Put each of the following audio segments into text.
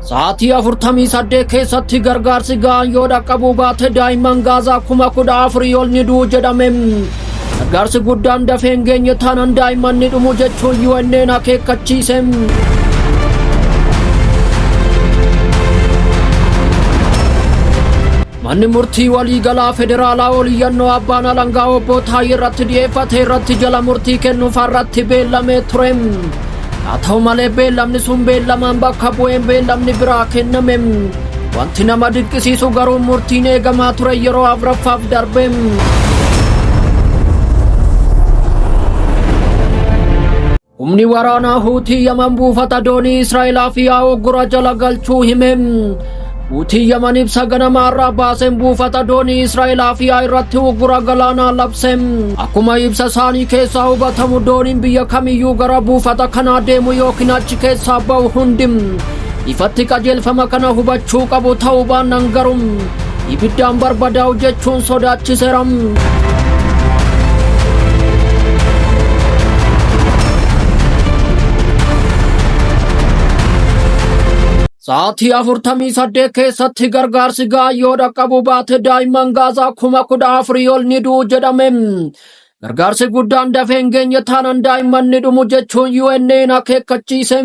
Sa'aatii 48 keessatti gargaarsi ga'aan yoo dhaqqabuu baate daa'imman gaazaa kuma kudha afurii ol ni du'u jedhame. Gargaarsi guddaan dafee hin geenye taanaan daa'imman ni dhumu jechuun UN'n akeekkachiise. Manni murtii waliigalaa federaalaa ol iyyannoo abbaan alangaa obbo Taayee irratti dhiyeeffate irratti jala murtii kennuuf har'atti beellamee ture. Haa ta'u malee beellamni sun beellamaan bakka bu'een beellamni biraa kenname. Wanti nama dinqisiisu garuu murtiin eegamaa ture yeroo afraffaaf darbe. Humni waraanaa Huutii Yaman buufata doonii Israa'elaa fi Awoggura jala galchuu hime. Huutii Yaman ibsa ganama har'aa baaseen buufata doonii Israa'elaa fi irratti uggura galaanaa labse. Akkuma ibsa isaanii keessaa hubatamu dooniin biyya kamiyyuu gara buufata kanaa deemu yookiin achi keessaa ba'u hundi ifatti qajeelfama kana hubachuu qabu ta'uu baannaan garuu ibiddaan barbadaa'u jechuun sodaachiseera. Sa'aatii afurtamii saddeet keessatti gargaarsi ga'aa yoo dhaqqabu baate daa'imman gaazaa kuma kudha afurii ol ni du'u jedhame. Gargaarsi guddaan dafee hin geenye taanaan daa'imman ni dhumu jechuun UN'n akeekkachiise.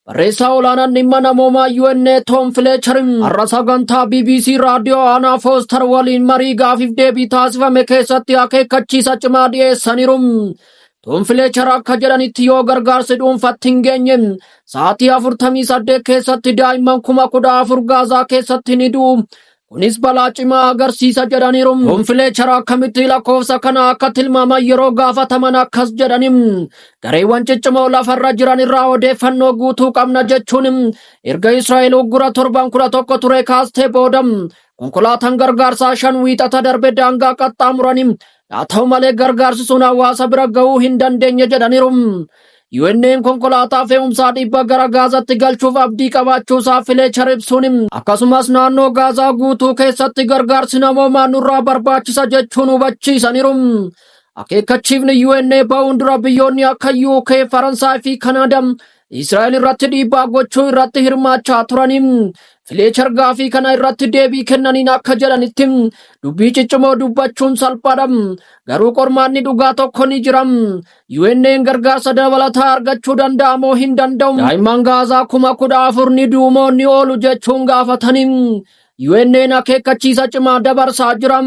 Barreessaa olaanaan dhimma namoomaa UNA Tom Fletcher har'a sagantaa BBC raadiyoo aanaa Foostar waliin marii gaafiif deebii taasifame keessatti akeekkachiisa cimaa dhiyeessaniiru. Tom Fletcher akka jedhanitti yoo gargaarsi dhuunfatti hin geenye sa'aatii 48 keessatti daa'imman kuma kudha afur Gaazaa keessatti ni du'u. Kunis balaa cimaa agarsiisa jedhaniiru. Konfileechara akkamitti lakkoofsa kana akka tilmaaman yeroo gaafataman akkas jedhani. Gareewwan ciccimoo lafarra jiran irraa odeeffannoo guutuu qabna jechuun erga Israa'el uggura torban kudha tokko ture kaastee booda konkolaataan gargaarsaa shan wiixata darbe daangaa qaxxaamurani. Haa ta'u malee gargaarsi sun hawaasa bira ga'uu hin dandeenye jedhaniiru. UN'n konkolaataa fe'umsaa dhibba gara Gaazaatti galchuuf abdii qabaachuusaa Fileechar ibsuun akkasumas naannoo Gaazaa guutuu keessatti gargaarsi namoomaa nurraa barbaachisa jechuun hubachiisaniiru. Akeekkachiifni UN ba'uun dura biyyoonni akka UK, Faransaay fi Kanaadaa Israa'el irratti dhiibbaa gochuu irratti hirmaachaa turaniin Fileechar gaafii kana irratti deebii kennaniin akka jedhanitti dubbii ciccimoo dubbachuun salphaadha. Garuu qormaanni dhugaa tokko ni jira. UN'n gargaarsa dabalataa argachuu danda'a moo hin danda'u? Daa'imman Gaazaa kuma kudha afur ni du'u moo ni oolu jechuun gaafataniin UN'n akeekkachiisa cimaa dabarsaa jira.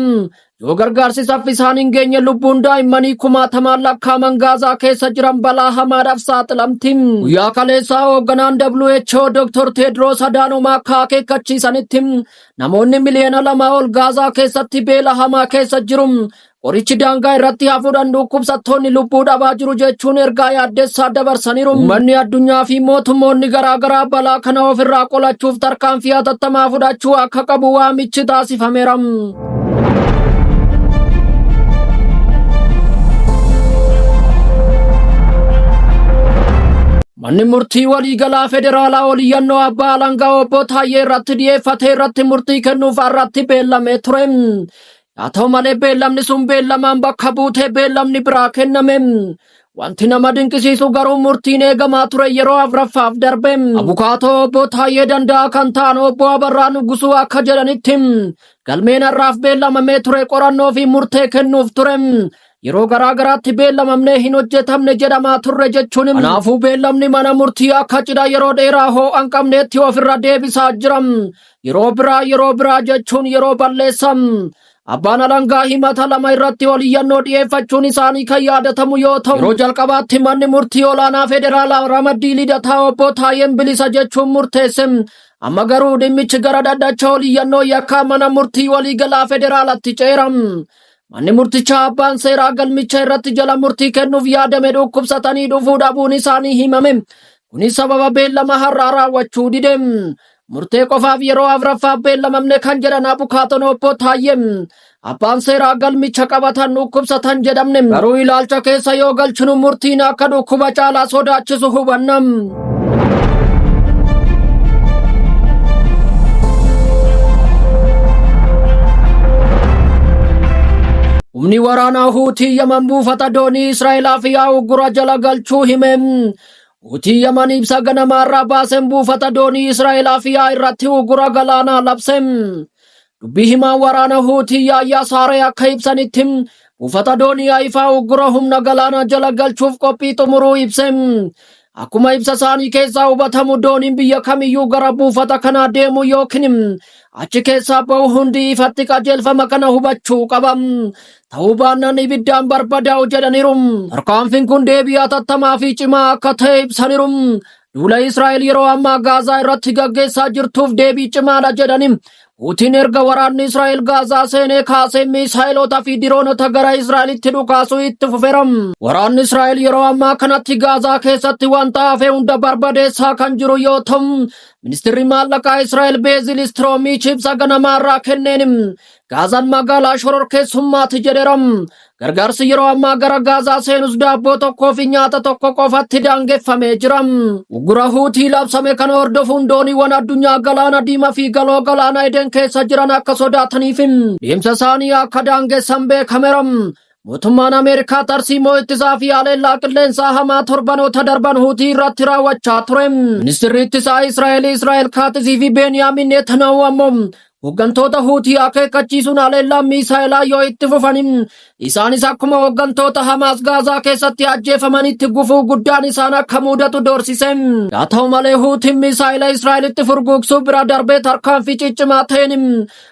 Yoo gargaarsi saffisaan hin geenye lubbuun daa'immanii kumaatamaan lakkaaman Gaazaa keessa jiran balaa hamaadhaaf saaxilamti. Guyyaa kaleessaa hoogganaan WHO Dr. Teedroos Adaanoom akka akeekkachiisanitti namoonni miliyoona lama ol Gaazaa keessatti beela hamaa keessa jiru. Qorichi daangaa irratti hafuudhaan dhukkubsattoonni lubbuu dhabaa jiru jechuun ergaa yaaddessaa dabarsaniiru. Uummanni addunyaa fi mootummoonni garaagaraa balaa kana ofirraa qolachuuf tarkaanfii hatattamaa fudhachuu akka qabu waamichi taasifameera. Manni murtii waliigalaa federaalaa oliyyannoo abbaa alangaa obbo Taayyee irratti dhiyeeffate irratti murtii kennuuf har'atti beellamee ture. Haa ta'u malee beellamni sun beellamaan bakka buutee beellamni biraa kenname. Wanti nama dinqisiisu garuu murtiin eegamaa ture yeroo afraffaaf darbe. Abukaatoo obbo Taayyee Danda'aa kan ta'an obbo Abarraa Nugusuu akka jedhanitti galmeen har'aaf beellamamee ture qorannoo fi murtee kennuuf ture. Yeroo garaa garaatti beellamamnee hin hojjetamne jedhamaa turre jechuun kanaafuu beellamni mana murtii akka cidha yeroo dheeraa hoo'an qabneetti ofirra deebisaa jira. Yeroo biraa yeroo biraa jechuun yeroo balleessan abbaan alangaa himata lama irratti ol iyyannoo dhiyeeffachuun isaanii kan yaadatamu yoo ta'u yeroo jalqabaatti manni murtii olaanaa federaalaa ramaddii lidataa obbo Taayeen bilisa jechuun murteesse amma garuu dhimmichi gara dhaddacha ol iyyannoo yakkaa mana murtii waliigalaa federaalatti ceera. Manni murtichaa abbaan seeraa galmicha irratti jala murtii kennuuf yaadame dhukkubsatanii dhufuu dhabuun isaanii himame. Kunis sababa beellama har'aa raawwachuu dide. Murtee qofaaf yeroo afraffaaf beellamamne kan jedhan abukaatoon obbo Taayyeen abbaan seeraa galmicha qabatan dhukkubsatan jedhamne garuu ilaalcha keessa yoo galchinu murtiin akka dhukkuba caalaa sodaachisu hubanna. Humni waraanaa Huutii Yaman buufata doonii Israa'elaa fi Awugura jala galchuu hime. Hutii Yaman ibsa ganamaa irraa baasen buufata doonii Israa'el Afiyaa irratti uggura galaanaa labse. Dubbii himaan waraana Huutii Yaayyaa Saaree akka ibsanitti buufata doonii Ayifaa uggura humna galaanaa jala galchuuf qophii xumuruu ibse. Akkuma ibsa isaanii keessaa hubatamu dooniin biyya kamiyyuu gara buufata kanaa deemu yookiin achi keessaa ba'u hundi ifatti qajeelfama kana hubachuu qaba. ta'uu baannaan ibiddaan barbadaa'u jedhaniiru. Tarkaanfiin kun deebii hatattamaa fi cimaa akka ta'e ibsaniiru. Duula Israa'el yeroo ammaa Gaazaa irratti gaggeessaa jirtuuf deebii cimaadha jedhani. Puutiin erga waraanni Israa'el Gaazaa seenee kaasee miisaa'iloota fi diroonota gara Israa'elitti dhukaasuu itti fufeera. Waraanni Israa'el yeroo ammaa kanatti Gaazaa keessatti wanta hafe hunda barbadeessaa kan jiru yoo ta'u, ministirri maallaqaa Israa'el Beezil Istiroomiich ibsa ganamaarraa kenneen Gaazaan magaalaa shororkeessummaati jedheera. Gargaarsi yeroo ammaa gara Gaazaa seenus daabboo tokkoo fi nyaata tokko qofatti daangeffamee jira. Uggura Huutii labsame kana hordofuun dooniiwwan addunyaa galaana diimaa fi galoo galaana Eden keessa jiran akka sodaataniif deemsa isaanii akka daangessan beekameera. Mootummaan Ameerikaa tarsiimoo ittisaa fi haleellaa qilleensaa hamaa torbanoota darban huutii irratti raawwachaa ture. Ministirri ittisaa Israa'el Israa'el Kaatisii fi Beeniyaamin Netanyahu ammoo hooggantoota huutii akeekkachiisuun haleellaa miisaa'elaa yoo itti fufan isaanis akkuma hooggantoota Hamaas Gaazaa keessatti ajjeefamanitti gufuu guddaan isaan akka muudatu doorsise. Haa ta'u malee huutiin miisaa'ela Israa'elitti furguugsuu bira darbee tarkaanfii ciccimaa ta'een